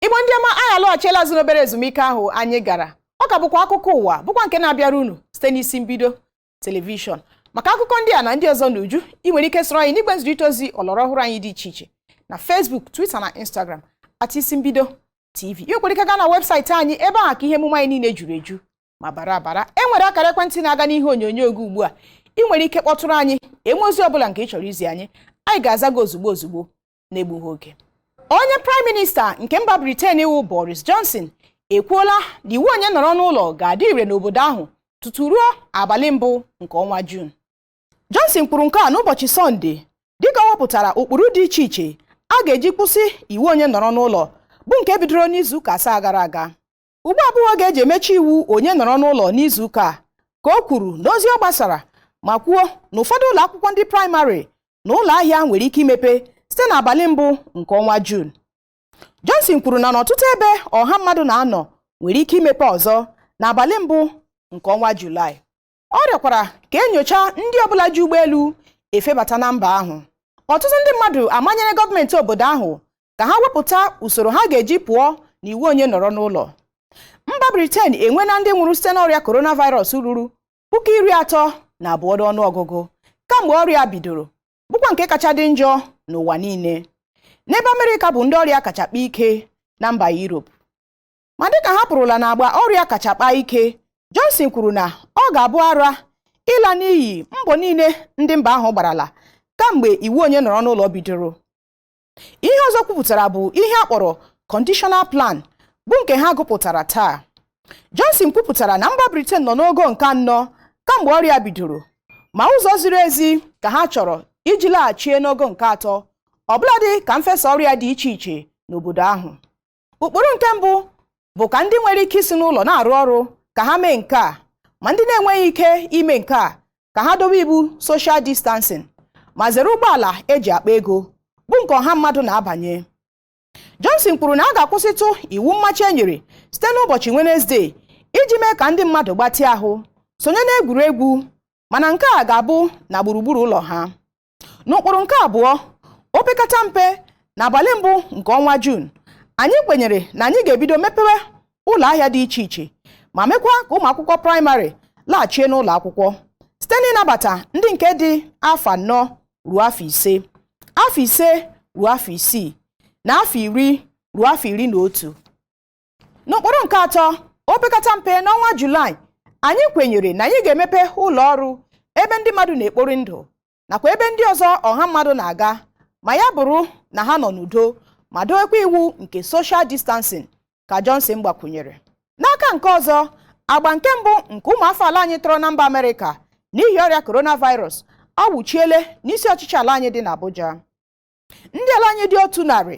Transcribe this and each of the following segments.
Igbo ndị ọma anyị alọghachiela azụ n'obere ezumike ahụ anyị gara ọ ka bụkwa akụkọ ụwa bụkwa nke na-abịara unu site n'isi mbido telivishọn maka akụkọ ndị a na ndị ọzọ n'uju ị nwere ike soro anyị n'igwe nzirịta ozi ọlọrọ ọhụrụ anyị dị iche iche na Facebook Twitter na Instagram at isi mbido TV ị nwekwara ike gaa na webụsaịtị anyị ebe ahụ ka ihe emume anyị niile juru eju ma bara abara e nwere akara ekwentị na-aga n'ihe onyonyo oge ugbu a ị nwere ike kpọtụrụ anyị e nwee ozi ọ bụla nke ị chọrọ izi anyị anyị ga-aza gị ozugbo ozugbo na-egbughị oge onye praịm minista nke mba briten bụ boris johnson ekwuola na iwu onye nọrọ n'ụlọ ga-adị ire n'obodo ahụ tutu ruo abalị mbụ nke ọnwa jun johnson kwuru nke a n'ụbọchị sọnde dịka ọ wepụtara ụkpụrụ dị iche iche a ga-eji kwụsị iwu onye nọrọ n'ụlọ bụ nke bidoro n'izu ụka asaa gara aga ugbu a abụghị oge e ji emechi iwu onye nọrọ n'ụlọ n'izu ụka a ka o kwuru n'ozi ọ gbasara ma kwuo na ụfọdụ ụlọ akwụkwọ ndị praịmarị na ụlọ ahịa nwere ike imepe site n'abalị mbụ nke ọnwa Jun Johnson kwuru na n'ọtụtụ ebe ọha mmadụ na-anọ nwere ike imepe ọzọ n'abalị mbụ nke ọnwa Julaị Ọ rịọkwara ka e nyochaa ndị ọbụla ji ụgbọelu efebata na mba ahụ. Ọtụtụ ndị mmadụ amanyere gọọmenti obodo ahụ ka ha wepụta usoro ha ga-eji pụọ n'iwu onye nọrọ n'ụlọ. Mba Briten enweela ndị nwụrụ site n'ọrịa coronavirus ruru puku iri atọ na abụọ n'ọnụọgụgụ kamgbe ọrịa a bidoro, bụkwa nke kacha dị njọ n'ụwa niile. N'ebe Amerịka bụ ndị ọrịa kacha kpaa ike na mba Europe. ma dịka ha pụrụla n'agba ọrịa kacha kpaa ike Johnson kwuru na ọ ga-abụ ara ịla n'iyi mbọ niile ndị mba ahụ gbarala kamgbe iwu onye nọrọ n'ụlọ bidoro ihe ọzọ o kwupụtara bụ ihe a kpọrọ conditional plan bụ nke ha gụpụtara taa Johnson kwupụtara na mba Britain nọ n'ogo nke anọ kamgbe ọrịa bidoro ma ụzọ ziri ezi ka ha chọrọ iji laghachie n'ogo nke atọ ọbụladị ka mfesa ọrịa dị iche iche n'obodo ahụ ụkpụrụ nke mbụ bụ ka ndị nwere ike isi n'ụlọ na-arụ ọrụ ka ha mee nke a ma ndị na-enweghị ike ime nke a ka ha dobe iwu social distancing ma zere ụgbọala e ji akpa ego bụ nke ọha mmadụ na-abanye Johnson kwuru na a ga-akwụsịtụ iwu mmachi e nyere site n'ụbọchị Wenezde iji mee ka ndị mmadụ gbatịa ahụ sonye n'egwuregwu mana nke a ga-abụ na gburugburu ụlọ ha n'ụkpụrụ nke abụọ opekata mpe na abalị mbụ nke ọnwa Jun anyị kwenyere na anyị ga-ebido mepewe ụlọ ahịa dị iche iche ma mekwa ka ụmụ akwụkwọ praịmarị laghachie n'ụlọ akwụkwọ site n'ịnabata ndị nke dị afọ anọ ruo afọ ise afọ ise ruo afọ isii na afọ iri ruo afọ iri na otu n'ụkpụrụ nke atọ opekata mpe n'ọnwa julaị anyị kwenyere na anyị ga-emepe ụlọ ọrụ ebe ndị mmadụ na-ekpori ndụ nakwa ebe ndị ọzọ ọha mmadụ na-aga ma ya bụrụ na ha nọ n'udo ma dowekwa iwu nke social distancing ka Johnson gbakwunyere n'aka nke ọzọ agba nke mbụ nke ụmụafọ ala anyị tọrọ na mba Amerịka n'ihi ọrịa coronavirus awụchiele n'isi ọchịchị ala anyị dị n'Abuja ndị ala anyị dị otu narị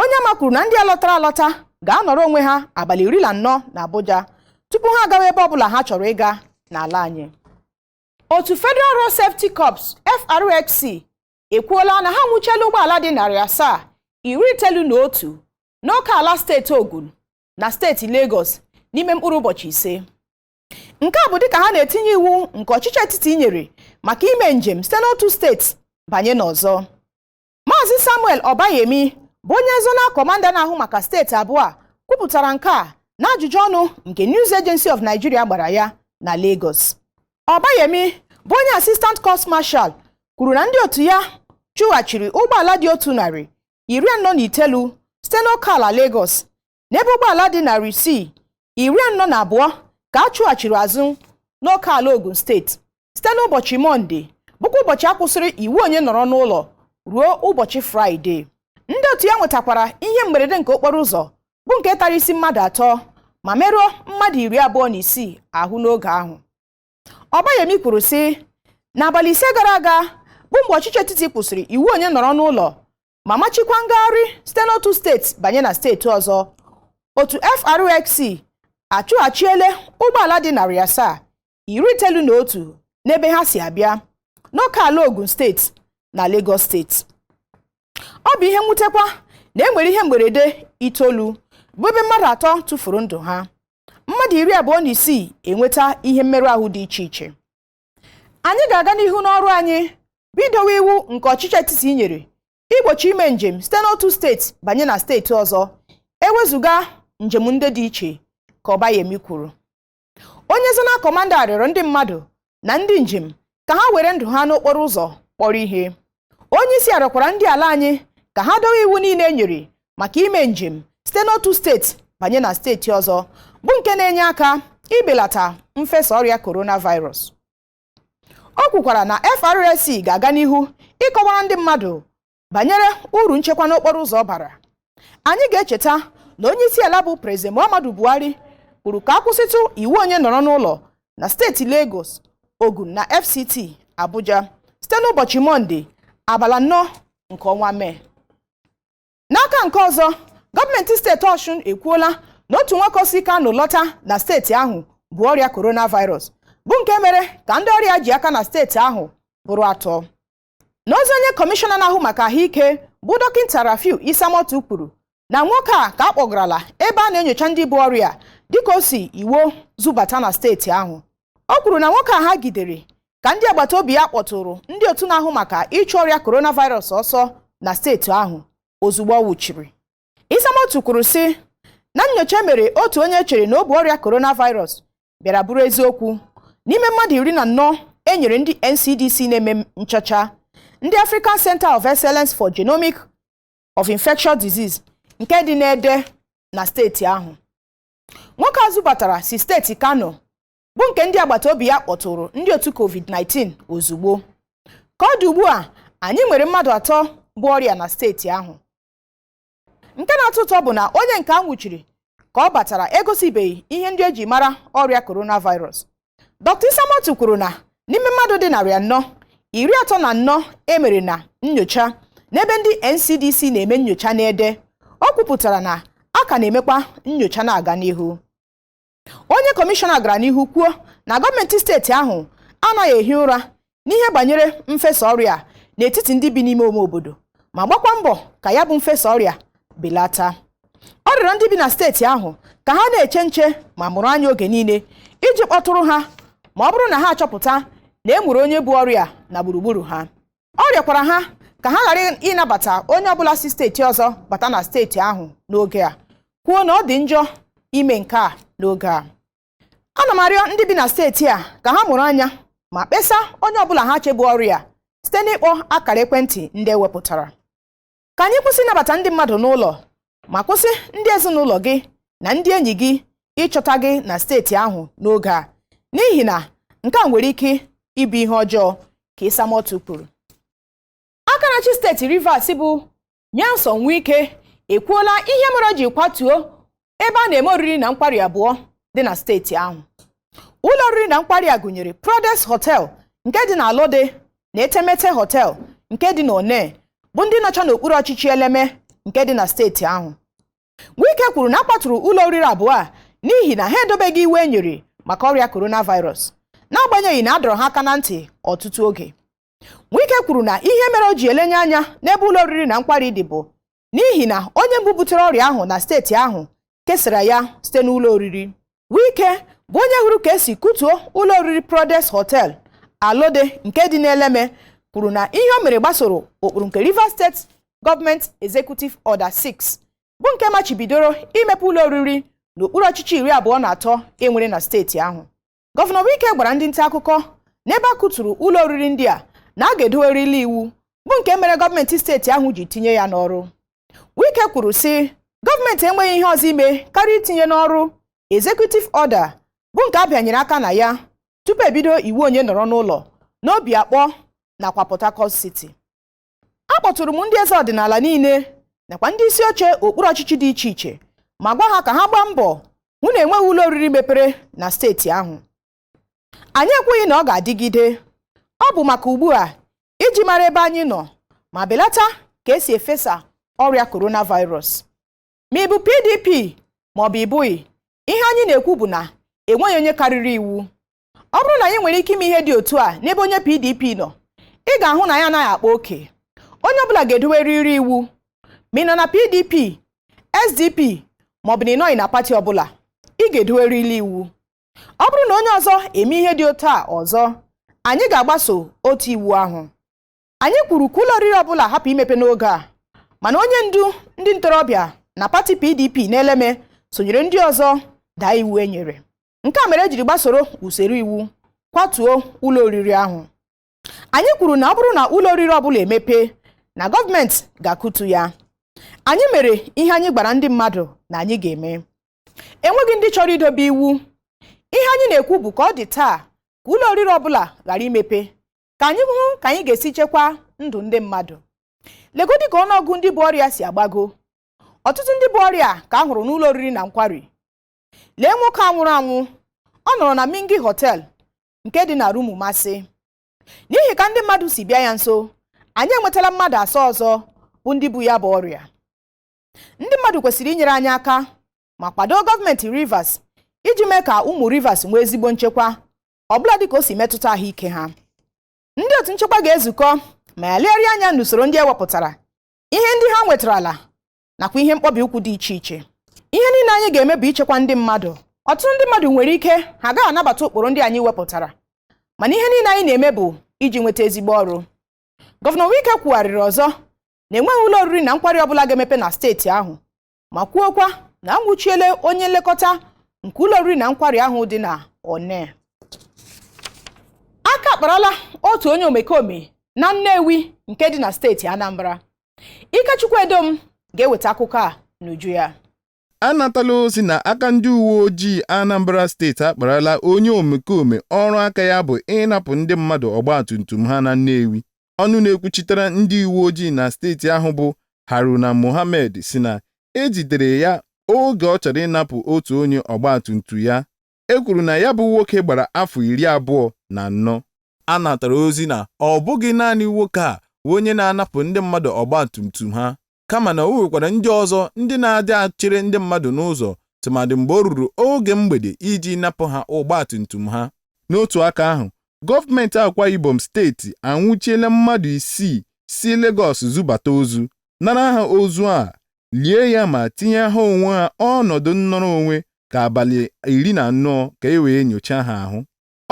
Onyeama kwuru na ndị a lọtara alọta ga-anọrọ onwe ha abalị iri na anọ na Abuja tupu ha agawa ebe ọbụla ha chọrọ ịga n'ala anyị otu Federal Road Safety Corps FRSC ekwuola na ha nwụchiela ụgbọala dị narị asaa iri itoolu na otu n'oke ala steeti Ogun na steeti Lagos n'ime mkpụrụ ụbọchị ise nke a bụ dịka ha na-etinye iwu nke ọchịchị etiti nyere maka ime njem site n'otu steeti banye n'ọzọ Maazị Samuel Ọbayemi bụ onye zona kọmanda na-ahụ maka steeti abụọ a kwupụtara nke a n'ajụjụ ọnụ nke News Agency of Nigeria gbara ya na Lagos. Ọbayemi bụ onye Assistant Corps Marshal kwuru na ndị otu ya chụghachiri ụgbọala dị otu narị iri anọ na itoolu site n'oke ala Lagos n'ebe ụgbọala dị narị isii iri anọ na abụọ ka a chụghachiri azụ n'oke ala Ogun steeti site n'ụbọchị Mọnde bụkwa ụbọchị a kwụsịrị iwu onye nọrọ n'ụlọ ruo ụbọchị Fraịde ndị otu ya nwetakwara ihe mberede nke okporo ụzọ bụ nke tara isi mmadụ atọ ma merụọ mmadụ iri abụọ na isii ahụ n'oge ahụ Ọbayemi kwuru sị n'abalị ise gara aga bụ mgbe ọchịchị etiti kwụsịrị iwu onye nọrọ n'ụlọ ma machikwa ngagharị site n'otu steeti banye na steeti ọzọ otu FRSC achụghachiele ụgbọala dị narị asaa iri itoolu na otu n'ebe ha si abịa n'oke ala Ogun steeti na Lagos steeti ọ bụ ihe mwutekwa na e nwere ihe mberede itoolu bụ ebe mmadụ atọ tufuru ndụ ha mmadụ iri abụọ na isii enweta ihe mmerụ ahụ dị iche iche anyị ga-aga n'ihu n'ọrụ anyị bụ idowe iwu nke ọchịchị etiti nyere igbochi ime njem site n'otu steeti banye na steeti ọzọ ewezuga njem ndị dị iche ka Ọbayemi kwuru onye zona kọmanda rịọrọ ndị mmadụ na ndị njem ka ha were ndụ ha n'okporo ụzọ kpọrọ ihe onye isi a rịọkwara ndị ala anyị ka ha dowe iwu niile e nyere maka ime njem site n'otu steeti banye na steeti ọzọ bụ nke na-enye aka ibelata mfesa ọrịa coronavirus o kwukwara na FRSC ga-aga n'ihu ịkọwara ndị mmadụ banyere uru nchekwa n'okporo ụzọ bara anyị ga-echeta na onye isi ala bụ Prezident Muhammadu Buhari kwuru ka a kwụsịtụ iwu onye nọrọ n'ụlọ na steeti Lagos Ogun na FCT Abuja site n'ụbọchị Mọnde abala anọ nke ọnwa Mee n'aka nke ọzọ gọọmenti steeti Ọshụn ekwuola na otu nwoke si Kano lọta na steeti ahụ bu ọrịa coronavirus bụ nke mere ka ndị ọrịa ji aka na steeti ahụ bụrụ atọ n'ozi onye kọmishọna na-ahụ maka ahụike bụ dọkịta Rafiu Isamotu kwuru na nwoke a ka a kpọgarala ebe a na-enyocha ndị bu ọrịa dịka o si Iwo zubata na steeti ahụ o kwuru na nwoke a ha gidere ka ndị agbata obi ya kpọtụrụ ndị otu na-ahụ maka ịchụ ọrịa coronavirus ọsọ na steeti ahụ ozugbo ọ wụchiri Isamotu kwuru sị na nyocha e mere otu onye e chere na o bu ọrịa coronavirus bịara bụrụ eziokwu n'ime mmadụ iri na anọ e nyere ndị NCDC na-eme nchọcha ndị African Center of Excellence for Genomic of Infectious Disease nke dị n'Ede na steeti ahụ nwoke a zubatara si steeti Kano bụ nke ndị agbata obi ya kpọtụrụ ndị otu COVID-19 ozugbo ka ọ dị ugbu a anyị nwere mmadụ atọ bu ọrịa na steeti ahụ nke na-atọ ụtọ bụ na onye nke a nwụchiri ka ọ batara egosibeghị ihe ndị e ji mara ọrịa coronavirus Dr. Isamotu kwuru na n'ime mmadụ dị narị anọ iri atọ na anọ e mere na nyocha n'ebe ndị NCDC na-eme nyocha n'Ede o kwupụtara na a ka na-emekwa nyocha na-aga n'ihu onye kọmishọna gara n'ihu kwuo na gọọmenti steeti ahụ anaghị ehi ụra n'ihe banyere mfesa ọrịa n'etiti ndị bi n'ime ime obodo ma gbakwa mbọ ka ya bụ mfesa ọrịa belata ọ rịọrọ ndị bi na steeti ahụ ka ha na-eche nche ma mụrụ anya oge niile iji kpọtụrụ ha ma ọ bụrụ na ha achọpụta na e nwere onye bu ọrịa na gburugburu ha ọ rịọkwara ha ka ha ghara ịnabata onye ọbụla si steeti ọzọ bata na steeti ahụ n'oge a kwuo na ọ dị njọ ime nke a n'oge a ana m arịọ ndị bi na steeti a ka ha mụrụ anya ma kpesa onye ọbụla ha che bu ọrịa site n'ịkpọ akara ekwentị ndị e wepụtara ka anyị kwụsị ịnabata ndị mmadụ n'ụlọ ma kwụsị ndị ezinụlọ gị na ndị enyi gị ịchọta gị na steeti ahụ n'oge a n'ihi na nke a nwere ike ịbụ ihe ọjọọ ka Isamotu kwuru aka na-achị steeti Rivers bụ Nyesom Wike ekwuola ihe mere o ji kwatuo ebe a na-eme oriri na nkwari abụọ dị na steeti ahụ ụlọ oriri na nkwari a gụnyere Prodest Hotel nke dị na Alode na Etemeteh Hotel nke dị na Onne bụ ndị nọcha n'okpuru ọchịchị Eleme nke dị na steeti ahụ Wike kwuru na a kwaturu ụlọ oriri abụọ a n'ihi na ha edobeghị iwu e nyere maka ọrịa coronavirus n'agbanyeghị na a dọrọ ha aka na ntị ọtụtụ oge Wike kwuru na ihe mere o ji elenye anya n'ebe ụlọ oriri na nkwari dị bụ n'ihi na onye mbụ butere ọrịa ahụ na steeti ahụ kesara ya site n'ụlọ oriri Wike bụ onye hụrụ ka esi kụtuo ụlọ oriri Prodest Hotel Alode nke dị n'Eleme kwuru na ihe o mere gbasoro ụkpụrụ nke Rivers State Government Executive Order 6 bụ nke machibidoro imepe ụlọ oriri n'okpuru ọchịchị iri abụọ na atọ enwere na steeti ahụ Gọvanọ Wike gwara ndị nta akụkọ n'ebe a kụturu ụlọ oriri ndị a na a ga-edowerịrị iwu bụ nke mere gọọmenti steeti ahụ ji tinye ya n'ọrụ Wike kwuru sị gọọmenti enweghị ihe ọzọ ime karịa itinye n'ọrụ executive order bụ nke a bịanyere aka na ya tupu ebido iwu onye nọrọ n'ụlọ n'Obio Akpor nakwa Port Harcourt City akpọtụrụ m ndị eze ọdịnala niile nakwa ndị isi oche okpuru ọchịchị dị iche iche ma gwa ha ka ha gbaa mbọ hụ na enweghị ụlọ oriri mepere na steeti ahụ anyị ekwughị na ọ ga-adịgide ọ bụ maka ugbu a iji mara ebe anyị nọ ma belata ka esi efesa ọrịa coronavirus ma ị bụ PDP ma ọ bụ ị bụghị ihe anyị na-ekwu bụ na enweghị onye karịrị iwu ọ bụrụ na anyị nwere ike ime ihe dị otu a n'ebe onye PDP nọ ị ga-ahụ na anyị anaghị akpa oke onye ọbụla ga-edowerịrị iwu ma ị nọ na PDP SDP maọbụ na ị nọghị na pati ọbụla ị ga-edowerịrị iwu ọ bụrụ na onye ọzọ eme ihe dị otu a ọzọ anyị ga-agbaso otu iwu ahụ anyị kwuru ka ụlọ oriri ọbụla hapụ imepe n'oge a mana onye ndu ndị ntorobịa na pati PDP n'Eleme sonyere ndị ọzọ daa iwu e nyere nke a mere ejiri gbasoro usoro iwu kwatuo ụlọ oriri ahụ anyị kwuru na ọ bụrụ na ụlọ oriri ọbụla emepe na gọọmenti ga-akụtu ya anyị mere ihe anyị gwara ndị mmadụ na anyị ga-eme enweghị ndị chọrọ idobe iwu ihe anyị na-ekwu bụ ka ọ dị taa ka ụlọ oriri ọbụla ghara imepe ka anyị hụ ka anyị ga-esi chekwa ndụ ndị mmadụ legodi ka ọnụọgụ ndị bu ọrịa si agbago ọtụtụ ndị bu ọrịa ka a hụrụ n'ụlọ oriri na nkwari lee nwoke a nwụrụ anwụ ọ nọrọ na Mingi Hotel nke dị na Rumumasi n'ihi ka ndị mmadụ si bịa ya nso anyị enwetala mmadụ asaa ọzọ bụ ndị bu ya bụ ọrịa ndị mmadụ kwesịrị inyere anyị aka ma kwado gọọmenti Rivers iji mee ka ụmụ Rivers nwee ezigbo nchekwa ọbụladị ka o si metụta ahụike ha ndị otu nchekwa ga-ezukọ ma ya legharịa anya n'usoro ndị ewepụtara ihe ndị ha nwetarala nakwa ihe mkpọbi ụkwụ dị iche iche ihe niile anyị ga-eme bụ ichekwa ndị mmadụ ọtụtụ ndị mmadụ nwere ike ha agaghị anabata ụkpụrụ ndị anyị wepụtara mana ihe niile anyị na-eme bụ iji nweta ezigbo ọrụ gọvanọ Wike kwugharịrị ọzọ na enweghị ụlọ oriri na nkwari ọbụla ga-emepe na steeti ahụ ma kwuokwa na anwụchiele onye nlekọta nke ụlọ oriri na nkwari ahụ dị na Onne aka akparala otu onye omekome na Nnewi nke dị na steeti Anambra Ikechukwu Edom ga-eweta akụkọ a n'uju ya anatala ozi na aka ndị uwe ojii Anambra steeti akparala onye omekome ọrụ aka ya bụ ịnapụ ndị mmadụ ọgbatumtum ha na Nnewi ọnụ na-ekwuchitere ndị uwe ojii na steeti ahụ bụ Haruna Mohammed sị na e jidere ya oge ọ chọrọ ịnapụ otu onye ọgbatumtum ya e kwuru na ya bụ nwoke gbara afọ iri abụọ na anọ. A natara ozi na ọ bụghị naanị nwoke a bụ onye na-anapụ ndị mmadụ ọgbatumtum ha kama na o nwekwara ndị ọzọ ndị na-adị achere ndị mmadụ n'ụzọ tụmadị mgbe o ruru oge mgbede iji napụ ha ọgbatumtum ha. N'otu aka ahụ, gọọmenti Akwa Ibom steeti anwụchiela mmadụ isii si Legọs zubata ozu, nara ha ozu a lie ya ma tinye ha onwe ha ọnọdụ nnọrọ onwe ka abalị iri na anọ ka e wee nyochaa ha ahụ.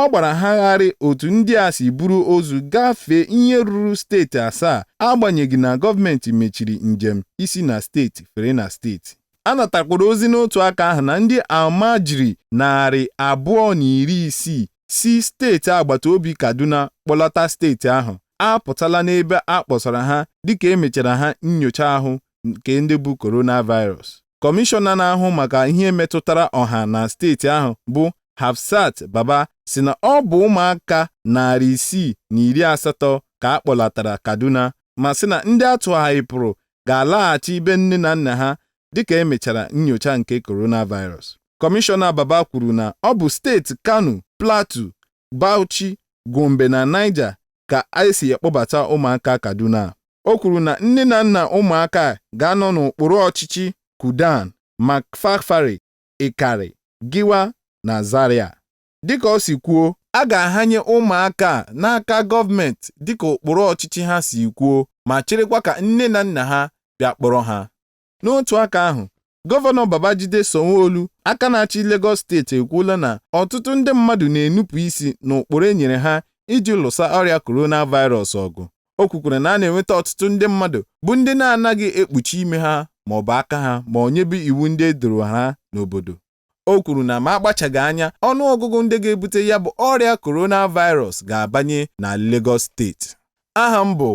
Ọ gbara ha gharịị otu ndị a si buru ozu gafee ihe ruru steeti asaa agbanyeghị na gọọmenti mechiri njem isi na steeti fere na steeti. A natakwara ozi n'otu aka ahụ na ndị Almajiri narị abụọ na iri isii si steeti agbata obi Kaduna kpọlata steeti ahụ apụtala n'ebe a kpọsara ha dịka e mechara ha nnyocha ahụ nke ndị bu coronavirus. Kọmishọna na-ahụ maka ihe metụtara ọha na steeti ahụ bụ Hafsat Baba sị na ọ bụ ụmụaka narị isii na iri asatọ ka a kpọlatara Kaduna ma sị na ndị a tụgharịpụrụ ga-alaghachi be nne na nna ha dịka e mechara nnyocha nke coronavirus. Kọmishọna Baba kwuru na ọ bụ steeti Kano, Plateau, Bauchi, Gombe na Niger ka e si ekpọbata ụmụaka Kaduna a. O kwuru na nne na nna ụmụaka a ga-anọ n'okpuru ọchịchị Kudan, Makfafari, Ikari, Giwa na Zaria. Dịka o si kwuo, a ga-ahanye ụmụaka a n'aka gọọmenti dịka okpuru ọchịchị ha si kwuo ma cherekwa ka nne na nna ha bịa kpọrọ ha. N'otu aka ahụ, Gọvanọ Babajide Sanwo-Olu, aka na-achị Legọs steeti ekwuola na ọtụtụ ndị mmadụ na-enupụ isi n'ụkpụrụ e nyere ha iji lụsa ọrịa coronavirus ọgụ. O kwukwara na a na-enweta ọtụtụ ndị mmadụ bụ ndị na-anaghị ekpuchi imi ha maọbụ aka ha ma ọ nyebe iwu ndị e doro ha n'obodo. O kwuru na ma akpachaghị anya, ọnụọgụgụ ndị ga-ebute ya bụ ọrịa coronavirus ga-abanye na Lagos steeti. Aha m bụ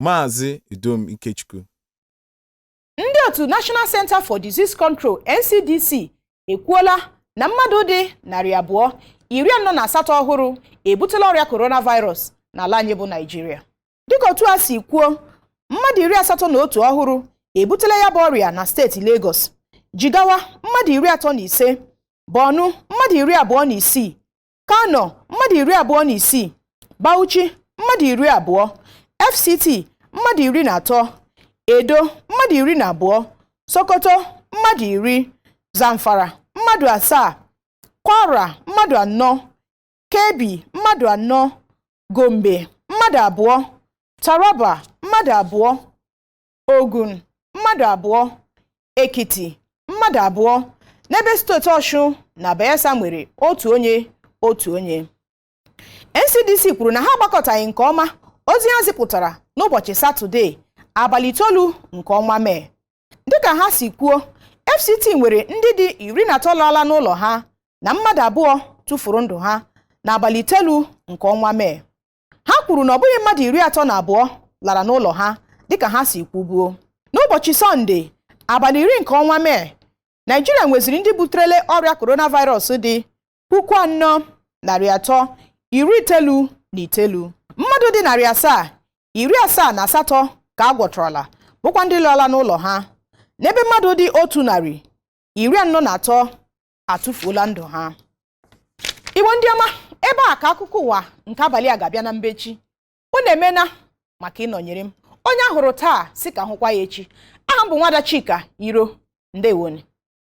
Maazị Edom Ikechukwu. Ndị otu National Center for Disease Control, NCDC, ekwuola na mmadụ dị narị abụọ, iri anọ na asatọ ọhụrụ ebutela ọrịa coronavirus n'ala anyị bụ Naịjirịa. dịka otu a si kwuo mmadụ iri asatọ na otu ọhụrụ ebutela ya bụ ọrịa na steeti Lagos Jigawa mmadụ iri atọ na ise Borno mmadụ iri abụọ na isii Kano mmadụ iri abụọ na isii Bauchi mmadụ iri abụọ FCT mmadụ iri na atọ Edo mmadụ iri na abụọ Sokoto mmadụ iri Zamfara mmadụ asaa Kwara mmadụ anọ Kebbi mmadụ anọ Gombe mmadụ abụọ Taraba mmadụ abụọ Ogun mmadụ abụọ Ekiti mmadụ abụọ n'ebe steeti Ọshụn na Bayelsa nwere otu onye otu onye NCDC kwuru na ha agbakọtaghị nke ọma ozi ha zipụtara n'ụbọchị Satọde abalị itoolu nke ọnwa Mee dịka ha si kwuo FCT nwere ndị dị iri na atọ laala n'ụlọ ha na mmadụ abụọ tụfuru ndụ ha n'abalị itelu nke ọnwa Mee ha kwuru na ọ bụghị mmadụ iri atọ na abụọ lara n'ụlọ ha dịka ha si kwubuo n'ụbọchị sọnde abalị iri nke ọnwa mee Naịjirịa nweziri ndị buterele ọrịa coronavirus dị puku anọ narị atọ iri itelu na itelu mmadụ dị narị asaa iri asaa na asatọ ka a gwọtọrọla bụkwa ndị lọla n'ụlọ ha n'ebe mmadụ dị otu narị iri anọ na atọ atụfuola ndụ ha Igbo ndị ọma ebe a ka akụkọ ụwa nke abalị a ga-abịa na mbechi unu emena maka ịnọnyere m onye a hụrụ taa sị ka a hụkwa ya echi aha m bụ nwada Chika Iro ndewonu